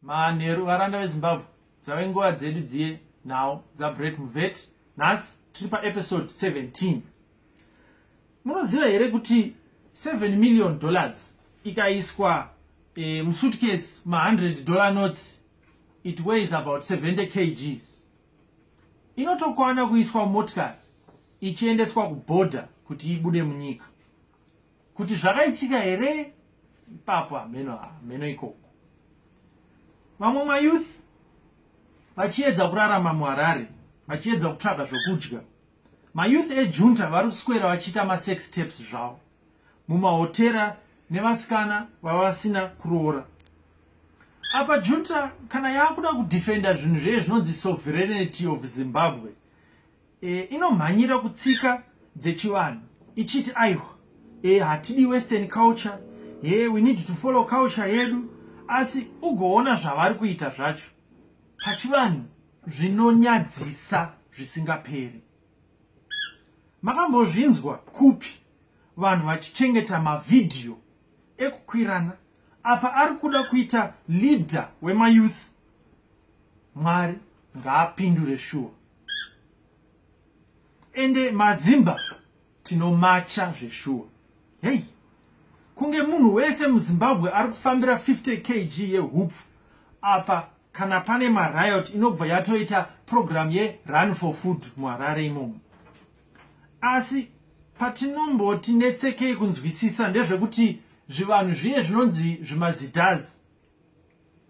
Manheru varanda veZimbabwe dzave nguva dzedu dziye nhau dzaBreak Muvet. Nhasi tiri paepisode 17. Munoziva here kuti 7 million dollars ikaiswa e, musuitcase ma100 dollar notes it weighs about 70 kgs inotokwana kuiswa motikari ichiendeswa kuborder kuti ibude munyika kuti zvakaitika here ipapo hameno hameno ikoko vamwe mayouth vachiedza kurarama muharare vachiedza kutsvaga zvokudya mayouth ejunta vari kuswera vachiita masex taps zvavo mumahotera nevasikana vavasina kuroora apa junta kana yaakuda kudefenda zvinhu zveye zvinonzi sovereignty of zimbabwe e, inomhanyira kutsika dzechivanhu ichiti aiwa e, hatidi western culture e, we need to follow culture yedu asi ugoona zvavari kuita zvacho pachivanhu zvinonyadzisa zvisingaperi makambozvinzwa kupi vanhu vachichengeta mavhidhiyo ekukwirana apa ari kuda kuita leader wemayouth mwari ngaapindure shuwa ende mazimba tinomacha zveshuwa hei kunge munhu wese muzimbabwe ari kufambira 50 kg yehupfu apa kana pane mariot inobva yatoita purogiramu yerun for food muharare imomo asi patinomboti netsekei kunzwisisa ndezvekuti zvivanhu zviye zvinonzi zvimazitas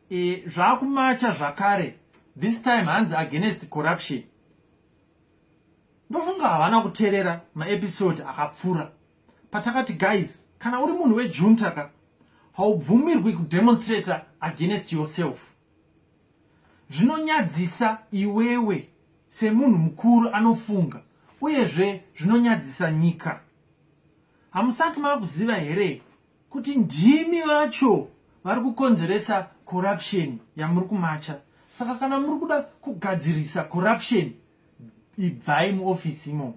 e, zvakumacha zvakare this time hanzi against corruption ndofunga havana kuterera maepisode akapfuura patakati guys kana uri munhu wejunta ka haubvumirwi kudemonstrata against yourself zvinonyadzisa iwewe semunhu mukuru anofunga uyezve zvinonyadzisa nyika hamusati makuziva here kuti ndimi vacho vari kukonzeresa corruption yamuri kumacha saka kana muri kuda kugadzirisa corruption ibvai muofisi imomo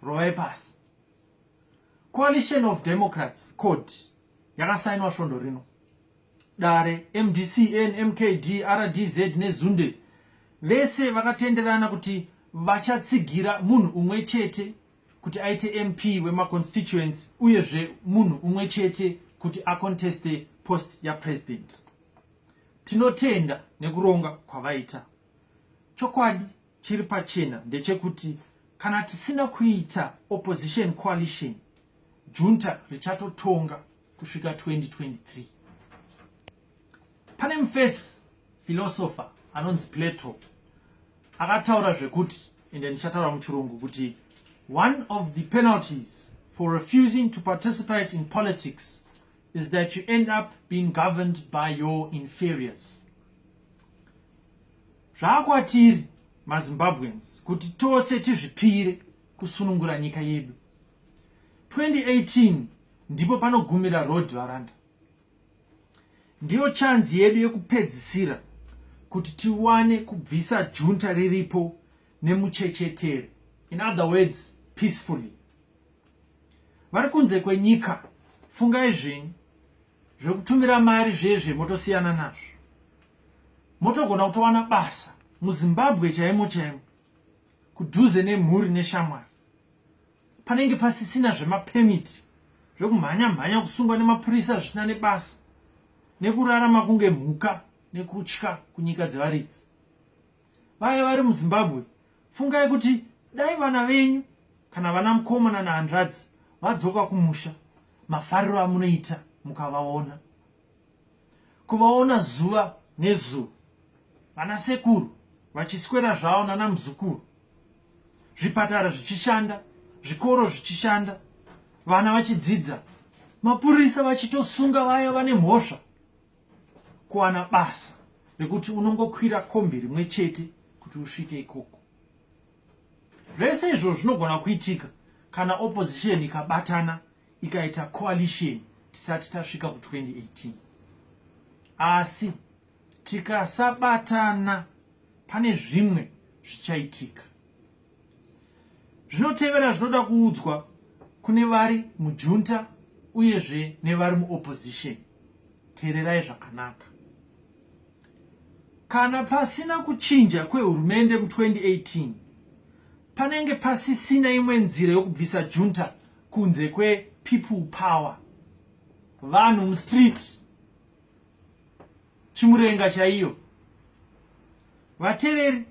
rovai pasi coalition of democrats code yakasainwa svondo rino dare mdcn mkd rdz nezunde vese vakatenderana kuti vachatsigira munhu umwe chete kuti aite mp wemaconstituency uyezve munhu umwe chete kuti aconteste post yapresident tinotenda nekuronga kwavaita chokwadi chiri pachena ndechekuti kana tisina kuita opposition coalition junta richatotonga kusvika 2023 pane mufesi filosofa anonzi plato akataura zvekuti ende ndichataura muchirungu kuti one of the penalties for refusing to participate in politics is that you end up being governed by your inferiors zvaakwatiri mazimbabweans kuti tose tizvipire kusunungura nyika yedu 2018 ndipo panogumira road varanda Ndiyo chanzi yedu yekupedzisira kuti tiwane kubvisa junta riripo nemuchechetere. In other words, peacefully. Vari kunze kwenyika, fungai zvenyu. Zvekutumira mari zvezve motosiyana nazvo. Motogona kutowana basa muZimbabwe chaimo chaimo kudhuze nemhuri neshamwari. panenge pasisina zvemapermit zvekumhanya mhanya kusungwa nemapurisa zvisina nebasa nekurarama kunge mhuka nekutya kunyika dzevaridzi vaya vari muzimbabwe fungai kuti dai vana venyu kana vana mukomana nahanzvadzi vadzoka kumusha mafariro amunoita mukavaona kuvaona zuva nezuva vana sekuru vachiswera zvavo nana muzukuru zvipatara zvichishanda zvikoro zvichishanda vana vachidzidza mapurisa vachitosunga vaya vane mhosva kuwana basa rekuti unongokwira kombi rimwe chete kuti usvike ikoko Zvese izvo zvinogona kuitika kana opposition ikabatana ikaita coalition tisati tasvika ku 2018 asi tikasabatana pane zvimwe zvichaitika zvinotevera zvinoda kuudzwa kune vari mujunta uyezve nevari muopposition teererai zvakanaka Kana pasina kuchinja kwehurumende mu 2018 panenge pasisina imwe nzira yokubvisa junta kunze kwe people power vanhu mustreet chimurenga chaiyo vatereri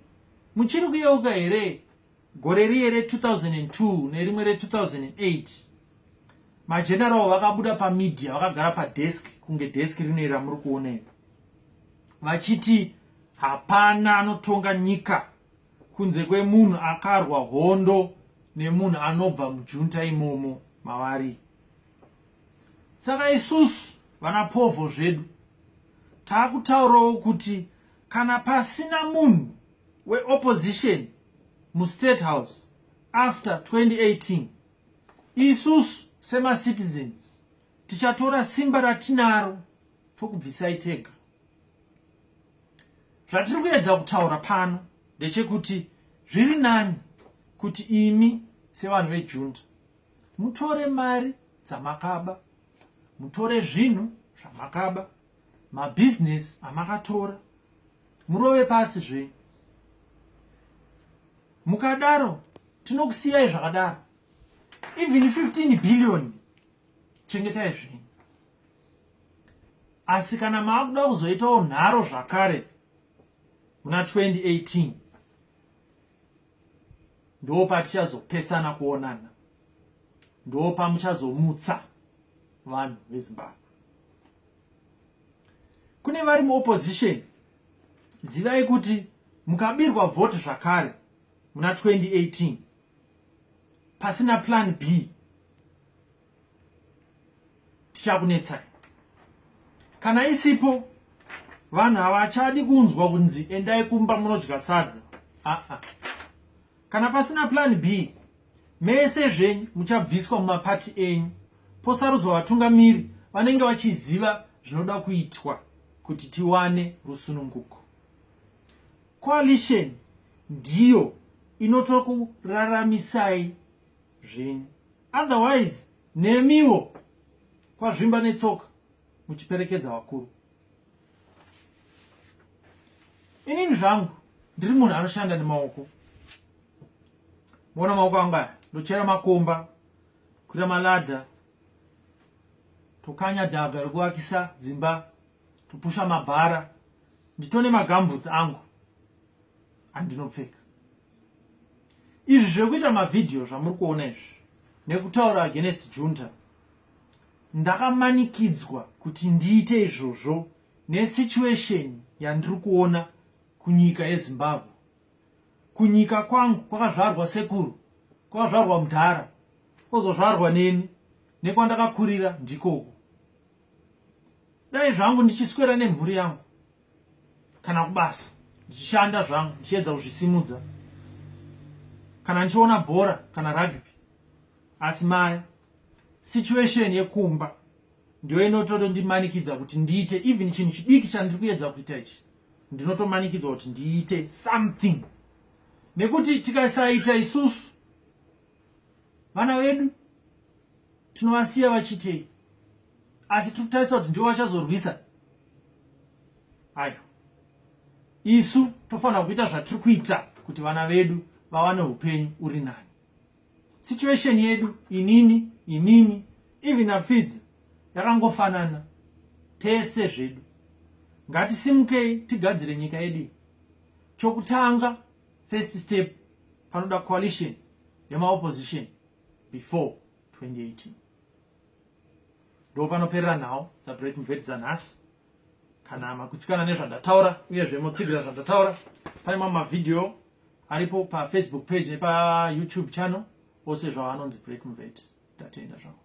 muchiri kuyeuka here gore riye re2002 nerimwe re2008 mageneral vakabuda pamedia vakagara padesk kunge desk rinei ramuri kuona ipo vachiti hapana anotonga nyika kunze kwemunhu akarwa hondo nemunhu anobva mujunta imomo mavari saka isusu vana povho zvedu taakutaurawo kuti kana pasina munhu weopposition mustate house after 2018 isusu semacitizens tichatora simba ratinaro tokubvisai tega zvatiri kuedza kutaura pano ndechekuti zviri nani kuti imi sevanhu vejunda mutore mari dzamakaba mutore zvinhu zvamakaba mabhizinesi amakatora murove pasi zve mukadaro tinokusiyai zvakadaro even 15 billion chengetai zvenyu asi kana maakuda kuzoitawo nharo zvakare muna 2018 ndo patichazopesana kuonana ndo pamuchazomutsa vanhu vezimbabwe kune vari muopposition zivai kuti mukabirwa vote zvakare muna 2018 pasina plan b tichakunetsai kana isipo vanhu havachadi kunzwa kunzi endai kumba munodya sadza aa ah -ah. kana pasina plan b mese zvenyu muchabviswa mumapati enyu posarudzwa vatungamiri vanenge vachiziva zvinoda kuitwa kuti tiwane rusununguko coalition ndiyo inotokuraramisai zvenyu otherwise nemiwo kwazvimba netsoka muchiperekedza vakuru inini zvangu ndiri munhu anoshanda nemaoko moona maoko angu aya ndochera makomba kukwira maladha tokanya dhaga rekuvakisa dzimba topusha mabhara nditone magambutsi angu andinopfeka izvi zvekuita mavhidhiyo zvamuri kuona izvi nekutaura against junta ndakamanikidzwa kuti ndiite izvozvo nesituation yandiri kuona kunyika yezimbabwe kunyika kwangu kwakazvarwa sekuru kwakazvarwa mudhara kwozozvarwa neni nekwandakakurira ndikoko dai zvangu ndichiswera nemhuri yangu kana kubasa ndichishanda zvangu ndichiedza kuzvisimudza kana ndichiona bhora kana rugby asi maya situation yekumba ndiyo inotodo ndimanikidza kuti ndiite even chinhu chidiki chandiri kuyedza kuita ichi ndinotomanikidzwa kuti ndiite something nekuti tikasaita isusu vana vedu tinovasiya vachitei asi tiri kutarisa kuti ndivo vachazorwisa ayo isu tofanira kuita zvatiri kuita kuti vana vedu vawane upenyu uri nani situation yedu inini inini even apfidza yakangofanana tese zvedu ngatisimukei tigadzire nyika yedu chokutanga first step panoda coalition yemaopposition before 2018 ndopanoperera nhau dzabrek mvedi dzanhasi kana makutsikana nezvandataura uyezve motsigirira zvandataura pane mamwe mavhidhiyo aripo pafacebook page nepayoutube channel ose zvavo anonzi break mvet tatenda zvavo